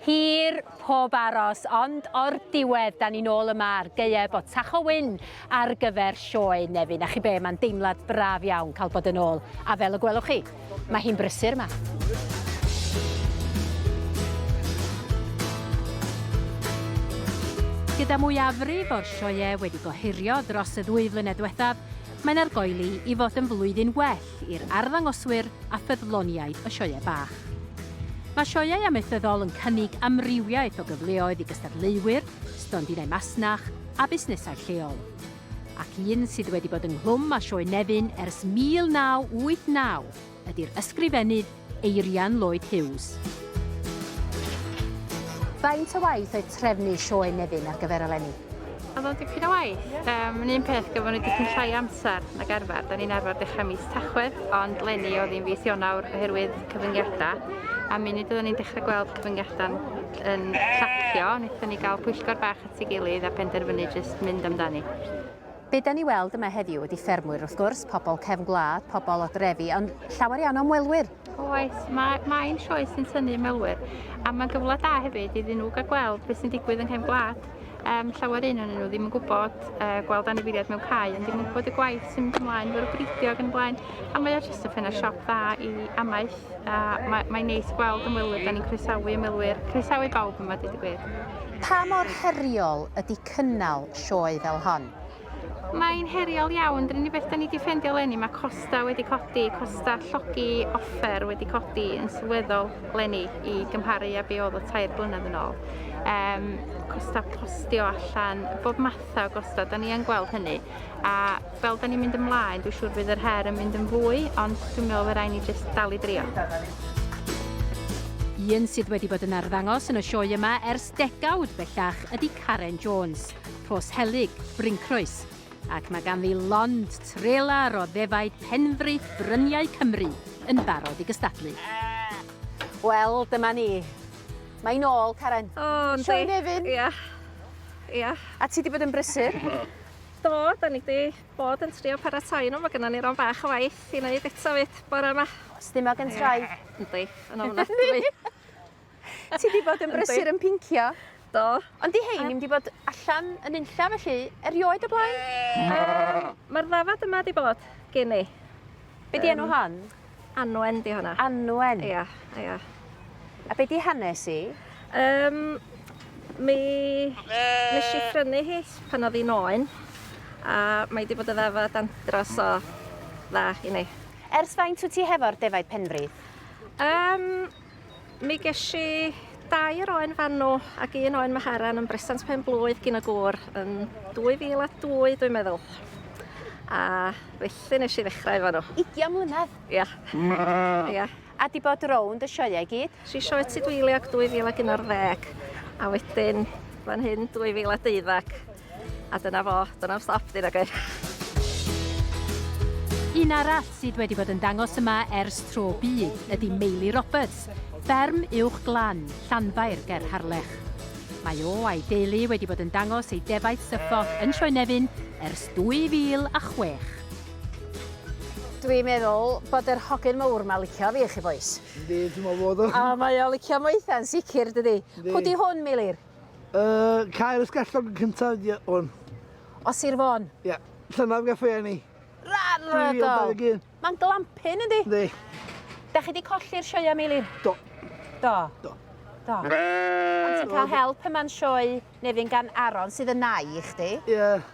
Hir, pob aros, ond o'r diwedd 'da ni'n ôl yma ar gaeau Bont Tacho Wyn ar gyfer Sioe Nefyn. A chi be, mae'n deimlad braf iawn cael bod yn ôl, a fel y gwelwch chi, mae hi'n brysur 'ma. Gyda mwyafrif o'r sioeau wedi gohirio dros y ddwy flynedd diwethaf, mae'n argoeli i fod yn flwyddyn well Meic i'r arddangoswyr a ffyddloniaid y Sioeau Bach. Mae Sioeau Amaethyddol yn cynnig amrywiaeth o gyfleoedd i gystadleuwyr, stondinau masnach a busnesau lleol. Ac un sydd wedi bod ynghlwm â Sioe Nefyn ers 1989 ydi'r ysgrifennydd Eirian Lloyd Hughes. Faint o waith oedd trefnu sioe Nefyn ar gyfer eleni? Oedd o'n dipyn o waith. Um, yn un peth, gafon ni dipyn llai amser na garfer. Da ni'n arfer dechrau mis Tachwedd, ond lenni oedd hi'n fis Ionawr oherwydd cyfyngiadau. A mi nid oeddwn ni'n dechrau gweld cyfyngiadau yn llacio, wnaethon ni gael pwyllgor bach at ei gilydd a penderfynu jyst mynd amdani. Be dan ni weld yma heddiw ydy ffermwyr wrth gwrs, pobl cefn gwlad, pobl o drefi, ond llawer iawn o ymwelwyr. Oes, mae, mae'n sioe sy'n tynnu ymwelwyr, a mae'n gyfle da hefyd iddyn nhw gael gweld beth sy'n digwydd yng nghefn gwlad. Um, llawer un o'n nhw ddim yn gwybod uh, gweld anifeiliaid mewn cae, ond ddim yn gwybod y gwaith sy'n mynd ymlaen, fel y bridio ac yn blaen, a mae o jyst yn ffenna siop dda i amaeth, a mae'n mae neis gweld ymwelwyr, da ni'n croesawu ymwelwyr, croesawu bawb yma, dweud y gwir. Pa mor heriol ydy cynnal sioe fel hon. Mae'n heriol iawn, yr unig beth 'da ni 'di ffendio leni, mae costa wedi codi, costa llogi offer wedi codi yn sylweddol leni i gymharu a be oedd o tair blynedd yn ôl. Um, costa postio allan, bob matha o gosta, 'da ni yn gweld hynny. A fel 'da ni'n mynd ymlaen, dwi'n siŵr bydd yr her yn mynd yn fwy, ond dwi'n meddwl fe rai ni jyst dal i drio. Un sydd wedi bod yn arddangos yn y sioe yma ers Degawd bellach ydy Karen Jones, Rhos Helyg, Bryncroes, ac mae ganddi lond trelar o ddefaid penfraith bryniau Cymru yn barod i gystadlu. Wel, dyma ni. Mae'n ôl, Karen. O, yndi. Sioe Nefyn. Ia. Ia. A ti wedi bod yn brysur? Do, da ni wedi bod yn trio paratoi nhw. Mae gennym ni ron bach o waith i wneud eto fyd bore yma. Stumog yn trai. Yndi, yn ofnadwy. Ti di bod yn brysur yn pincio. Do. Ond di hein ddim di bod allan yn unlla felly, erioed o blaen? Um, Mae'r ddafad yma di bod gen i. Be di enw hon? Anwen di hwnna. Anwen? Ia, ia. A be di hanes i? Um, mi... Nes i prynu hi pan oedd hi'n oen. A mae di bod y ddafad andros o dda i ni. Ers faint wyt ti hefo'r defaid penfri? Um, Mi gesh i dair oen fan nhw ac un oen Maharan yn bresant pen blwydd gyn y gŵr yn 2002 dwi'n meddwl. A felly nes i ddechrau efo nhw. Ugian mlynedd? Ia. Ia. A di bod rownd y sioeau i gyd? Si sioe Tudweiliog 2011 a wedyn fan hyn 2012. A dyna fo, do'n na'm stop 'di nag oedd? Un arall sydd wedi bod yn dangos yma ers tro byd ydy Meili Roberts, fferm Uwch Glan, Llanfair ger Harlech. Mae o a'i deulu wedi bod yn dangos ei defaid syffoch yn Sioe Nefyn ers 2006. Dwi'n meddwl bod yr hogyn mowr 'ma licio fi chi bois. Yndi, dwi'n meddwl bod o. O mae o licio moetha yn sicr dydi? Yndi. Pw 'di hwn Meilir? Uh, cael ysgellog yn cyntaf ydi hwn. O Sir Fôn? Ie. Yeah. Llynaf gaffau enni. Rhagol! Mae'n glampin ydi? Yndi. Da chi di colli'r sioia Meilir? Do. Do? Do. Do. Ond ti'n cael help yma'n sioe Nefyn gan Aron sydd yn nai i chdi? Ie. Yeah.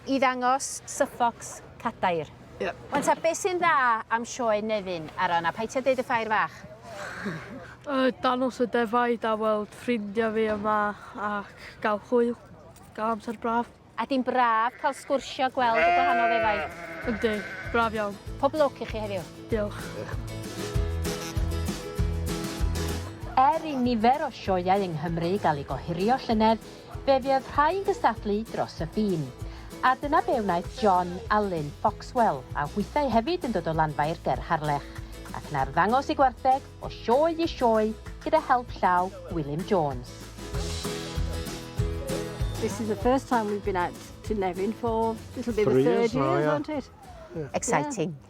i ddangos Suffolk cadair. Ie. Wan ta be sy'n dda am sioe Nefyn a Ron a paid ti a deud y ffair fach. Yy dangos y defaid a weld ffrindia fi yma ac ga'l hwyl. Ga'l amser braf. A di'n braf cael sgwrsio gweld y gwahanol ddefaid. Yndi. Braf iawn. Pob lwc i chi heddiw. Diolch. Er i nifer o sioeau yng Nghymru gael eu gohirio llynedd, Fe fuodd rhai'n gystadlu dros y ffin, a dyna be wnaeth John a Lynn Foxwell, a hwythau hefyd yn dod o Lanfair ger Harlech, ac 'na arddangos eu gwartheg o sioe i sioe gyda help llaw Gwilym Jones. This is the first time we've been out to Nefyn for it'll be the third year, won't it? Exciting.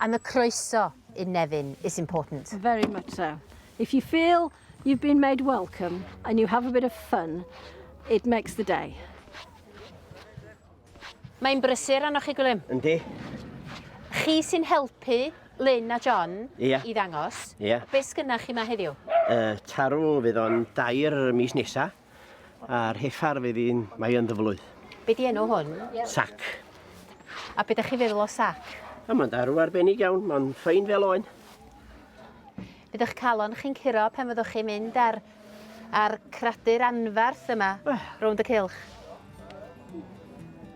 And the croeso in Nefyn is important. Very much so. If you feel you've been made welcome and you have a bit of fun, it makes the day. Mae'n brysur arnoch chi, Gwilym. Yndi. Chi sy'n helpu Lynn a John Ia. i ddangos. Ia. Be sgynna chi ma heddiw? Uh, tarw fydd o'n dair mis nesa. A'r heffar fydd un mae yn ddyflwy. Be di enw hwn? Sac. A be da chi feddwl o sac? A mae'n darw arbennig iawn, mae'n ffein fel oen. Bydd eich calon chi'n curo pen fyddwch chi'n mynd ar, ar cradur anfarth yma, rownd y cilch.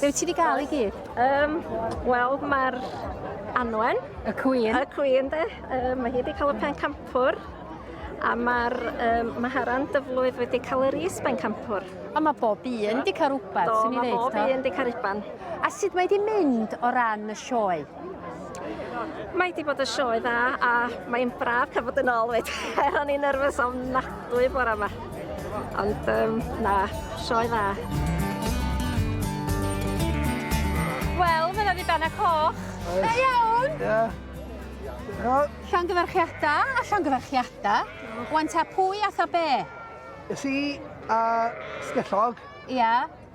Be wyt ti wedi cael i gyd? Um, Wel, mae'r Anwen. Y Cwyn. Y Cwyn, de. Um, mae hi wedi cael y pen campwr. A mae'r um, Maharan Dyflwydd wedi cael yr is pen campwr. A mae bob un wedi cael rhywbeth, sy'n ei ddeud. Do, mae bob un wedi cael rhywbeth. A sut mae wedi mynd o ran y sioe? Mae wedi bod yn sioe dda a mae'n braf cael bod yn ôl fyd. Er o'n i'n nerfus o'n nadwy bore yma. Ond um, na, sioe dda. Wel, mae'n yna ddiben a coch. Da iawn! Ia. Llan gyfarchiada, a llan gyfarchiada. Wan ta pwy a tha be? Ys i a sgellog. Ia.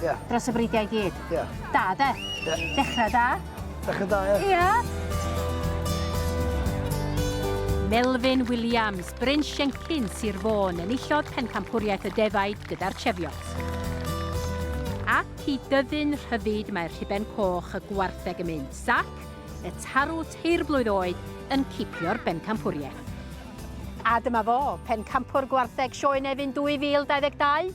Ie. Dros y bridiau i gyd. Ie. Da, de? Ie. Dechra da. Dechra da, ie. Ia. Melvin Williams, Bryn Siencyn, Sir Fôn, enillodd Pencampwriaeth y Defaid gyda'r Cheviot. Ac i dyfu'n rhyfyd mae'r rhuben coch y gwartheg yn mynd, Sac, y tarw teir blwydd oed, yn cipio'r bencampwriaeth. A dyma fo, pencampwr gwartheg Sioe Nefyn 2022,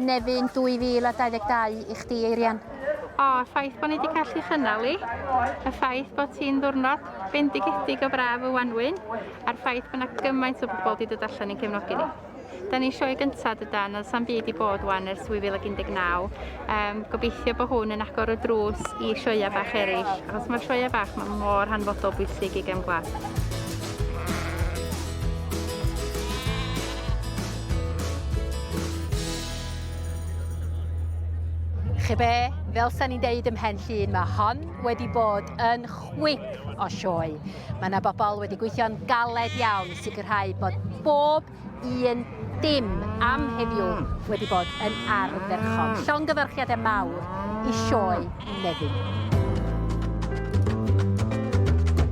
Nefyn 2022 i chdi Eirian. O, y ffaith bod ni wedi gallu chynnal i, y ffaith bod ti'n ddwrnod bendigedig o braf y wanwyn, a'r ffaith bod yna gymaint o bobl wedi dod allan i'n cefnogi ni. Da ni sioe gyntaf dydan, oedd sam byd i bod wan ers 2019. Um, gobeithio bod hwn yn agor y drws i sioia bach eraill, achos mae'r sioia bach mae mor hanfodol bwysig i gem glas. Chi be, fel sa'n ni'n deud ymhen llun, mae hon wedi bod yn chwip o sioe. Mae yna bobl wedi gweithio'n galed iawn i sicrhau bod bob un dim am heddiw wedi bod yn ardderchog. Llongyfarchiadau mawr i sioe Nefyn.